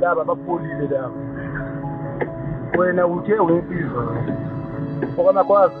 laba bapolile laba wena uthe ungiphiwe okwama kwazi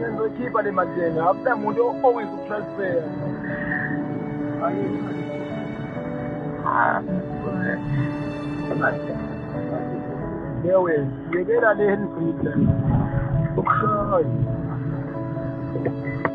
Ngizokhipha le mali yena akula muntu owis ukutransfer yewe yekela le henry ukushaya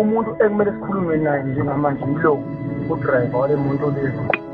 umuntu ekumele sikhulume naye njengamanje yilo udriver wale muntu lezi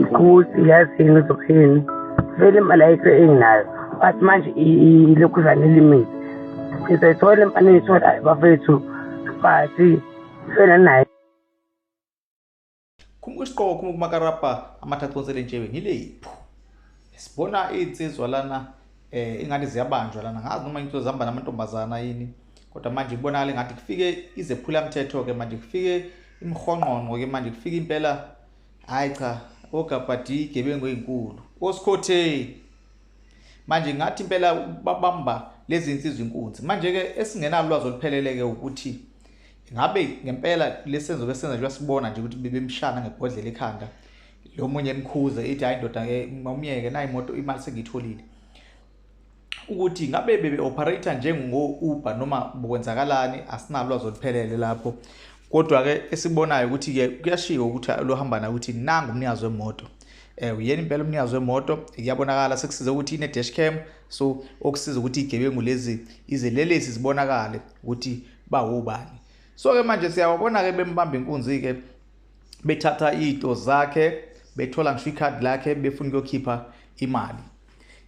ukuthi yazi yini uzokhini vele imali ayikho enginayo but manje ilokhu zanilimile ngizayithola imali engiyitholayo bafethu but fela naye khumbuka isiqoko khumbuka umakarabha amathathu onsele njewe ngileyiphu sibona iy'nsizwa lana um ingane ziyabanjwa lana ngazi noma into zihamba namantombazana yini kodwa manje kubonakala ngathi kufike izephulamthetho-ke manje kufike imhonqonqo-ke manje kufike impela Hayi cha, ogabhadi igebengu ezinkulu. Osikhotheni. Manje ngathi impela babamba lezi insizwa inkunzi. Manje ke esingenalwazi oluphelele ke ukuthi ngabe ngempela lesenzo besenza nje sibona nje ukuthi bebemshana ngebhodlela ekhanda. Lo munye emkhuze ithi hayi ndoda ke ngomyeke nayi imoto imali sengitholile. ukuthi ngabe bebe-operator njengo-uber noma bokwenzakalani asinalwazi oluphelele lapho kodwa-ke esibonayo ukuthi-ke kuyashika ukuthi luhambana ukuthi nangu umnikazi wemoto um uyena impela umnikazi wemoto iyabonakala sekusize ukuthi ine-dash cam so okusiza ukuthi iy'gebengu lezi izelelesi zibonakale ukuthi bawubani so-ke manje siyawabona-ke bembamba inkunzi-ke bethatha iy'to zakhe bethola ngisho ikhadi lakhe befuna ukuyokhipha imali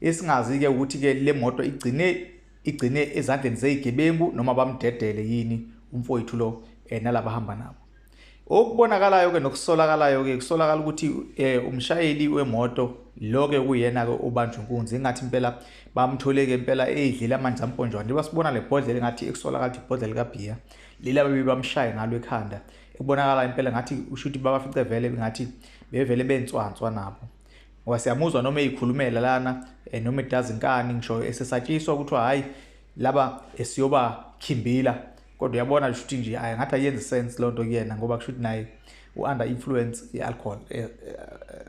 Esingazi-ke ukuthi-ke le moto igcine igcine ezandleni zeyigebengu noma bamdedele yini umfowethu lo eh, nalaba hamba nabo okubonakalayo ke nokusolakalayo ke kusolakala ukuthi eh, umshayeli wemoto lo ke kuyena ke ubanjwe inkunzi ingathi impela bamthole ke impela eyidlela amanzi amponjwana njengoba sibona le bhodlela engathi ekusolakala ukuthi ibhodlela kabiya lila bebe bamshaye ngalo ekhanda ekubonakala impela ngathi ushuthi babafice vele ngathi bevele benswanswa nabo ngoba siyamuzwa noma eyikhulumela lana eh, noma edazi inkani ngisho esesatshiswa ukuthi hayi laba esiyoba khimbila kodwa uyabona kusho ukuthi nje ayi ngathi ayenzi sense loo nto kuyena ngoba kusho ukuthi naye u-under influence ye-alcohol eh, eh,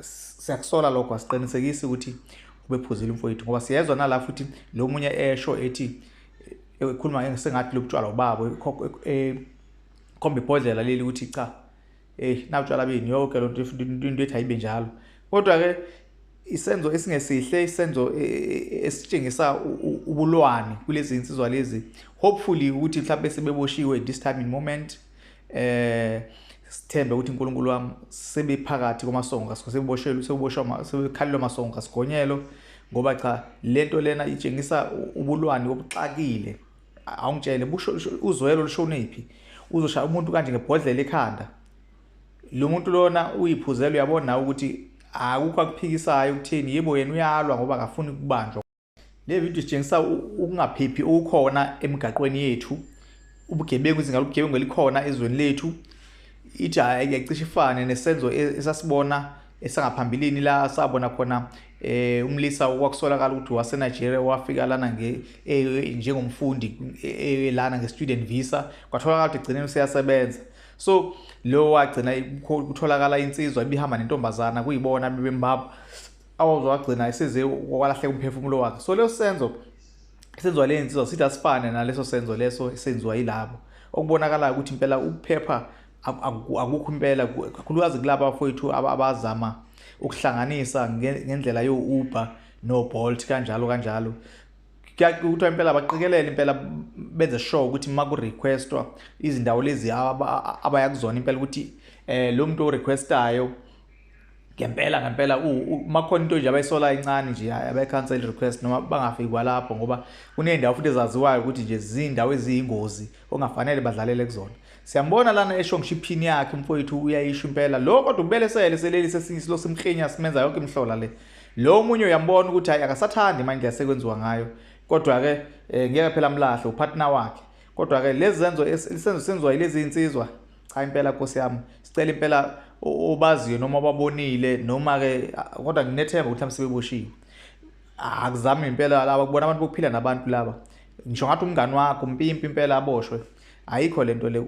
siyakusola lokho asiqinisekisi ukuthi ubephuzile umfowethu ngoba siyezwa nala futhi lo munye esho ethi ekhuluma sengathi lobutshwala ubabo ekhomba ibhodlela leli ukuthi cha eyi nawutshwala bini yoke lonto into ethi ayibe njalo kodwa-ke isenzo esingesihle isenzo e, e, e, esitshengisa ubulwane kulezi insizwa lezi hopefully ukuthi mhlawumbe sebeboshiwe this time in moment eh sithembe ukuthi uNkulunkulu wami sebephakathi kwamasongo kaSigo sebeboshelwe seboshwa sebekhalelwa amasongo kaSigonyelo ngoba cha lento lena itshengisa ubulwane obuxakile awungitshele busho uzwelo lushonephi uzoshaya umuntu kanje ngebhodlela ekhanda lo muntu lona uyiphuzela uyabona ukuthi akukho akuphikisayo ukuthini yebo yena uyalwa ngoba akafuni kubanjwa le video sitshengisa ukungaphephi okukhona emigaqweni yethu ubugebengu izinga lobugebengu elikhona ezweni lethu ithi ayicishe ifane nesenzo e-, esasibona esangaphambilini la sabona khona eh umlisa wakusolakala ukuthi wase Nigeria wafika lana nge eh, njengomfundi eh, eh, lana nge student visa kwatholakala ukuthi gcine useyasebenza so lo wagcina kutholakala insizwa ibihamba nentombazana kuyibona bebembaba awazogcina eseze walahleka umphefumulo wakhe so leso senzo senziwa le nsizwa sithi asifane naleso senzo leso esenziwa yilabo okubonakalayo ukuthi impela ukuphepha akukho impela kakhulukazi kulaba bafowethu abazama ukuhlanganisa ngendlela yo-uber no-bolt kanjalo kanjalo kuthiwa impela baqikelele impela benze sure ukuthi uma ku-requestwa izindawo lezi abaya kuzona impela ukuthi um lo muntu o-requestayo ngempela ngempela uma khona into nje abayisola incane nje abayi-cancel request noma bangafiki kwalapho ngoba kuney'ndawo futhi ezaziwayo ukuthi nje ziyindawo eziyingozi ongafanele badlalele kuzona siyambona lana esho ngisho iphini yakhe umfowethu uyayisho impela lo kodwa ubelesele seleli sesinye isilo simkhinya simenza yonke imhlola le lo omunye uyambona ukuthi hayi akasathandi manje yasekwenziwa ngayo kodwa-ke um ngeke phela mlahle upartner wakhe kodwa-ke lezi zenzo isenzo senziwa yilezi zinsizwa cha impela nkosi yami sicela impela obaziyo noma obabonile noma-ke kodwa nginethemba ukuthi mhlawumbe sebeboshiwe akuzami impela laba kubona abantu bokuphila nabantu laba ngisho ngathi umngani wakho umpimpi impela aboshwe ayikho lento le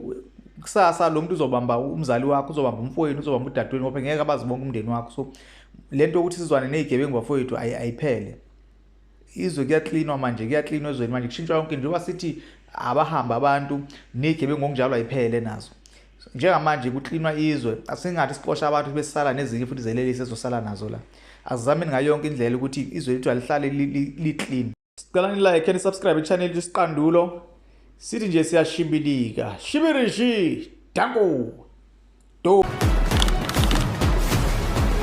kusasa lo muntu uzobamba umzali wakho uzobamba umfowenu uzobamba udadewenu ngoba ngeke abazi bonke umndeni wakho so lento ukuthi sizwane nezigebengu bafowethu ayiphele izwe kuyaklinwa manje kuyaklinwa ezweni manje kushintshwa yonke njengoba sithi abahamba abantu nezigebengu ngokunjalo ayiphele nazo njengamanje kuklinwa izwe asingathi sixosha abantu besala nezinye futhi zelelise ezosala nazo la asizameni ngayo yonke indlela ukuthi izwe lethu alihlale li-clean sicela nilike nisubscribe i-channel yethu isiqandulo sithi nje siyashibilika shibirishi danko do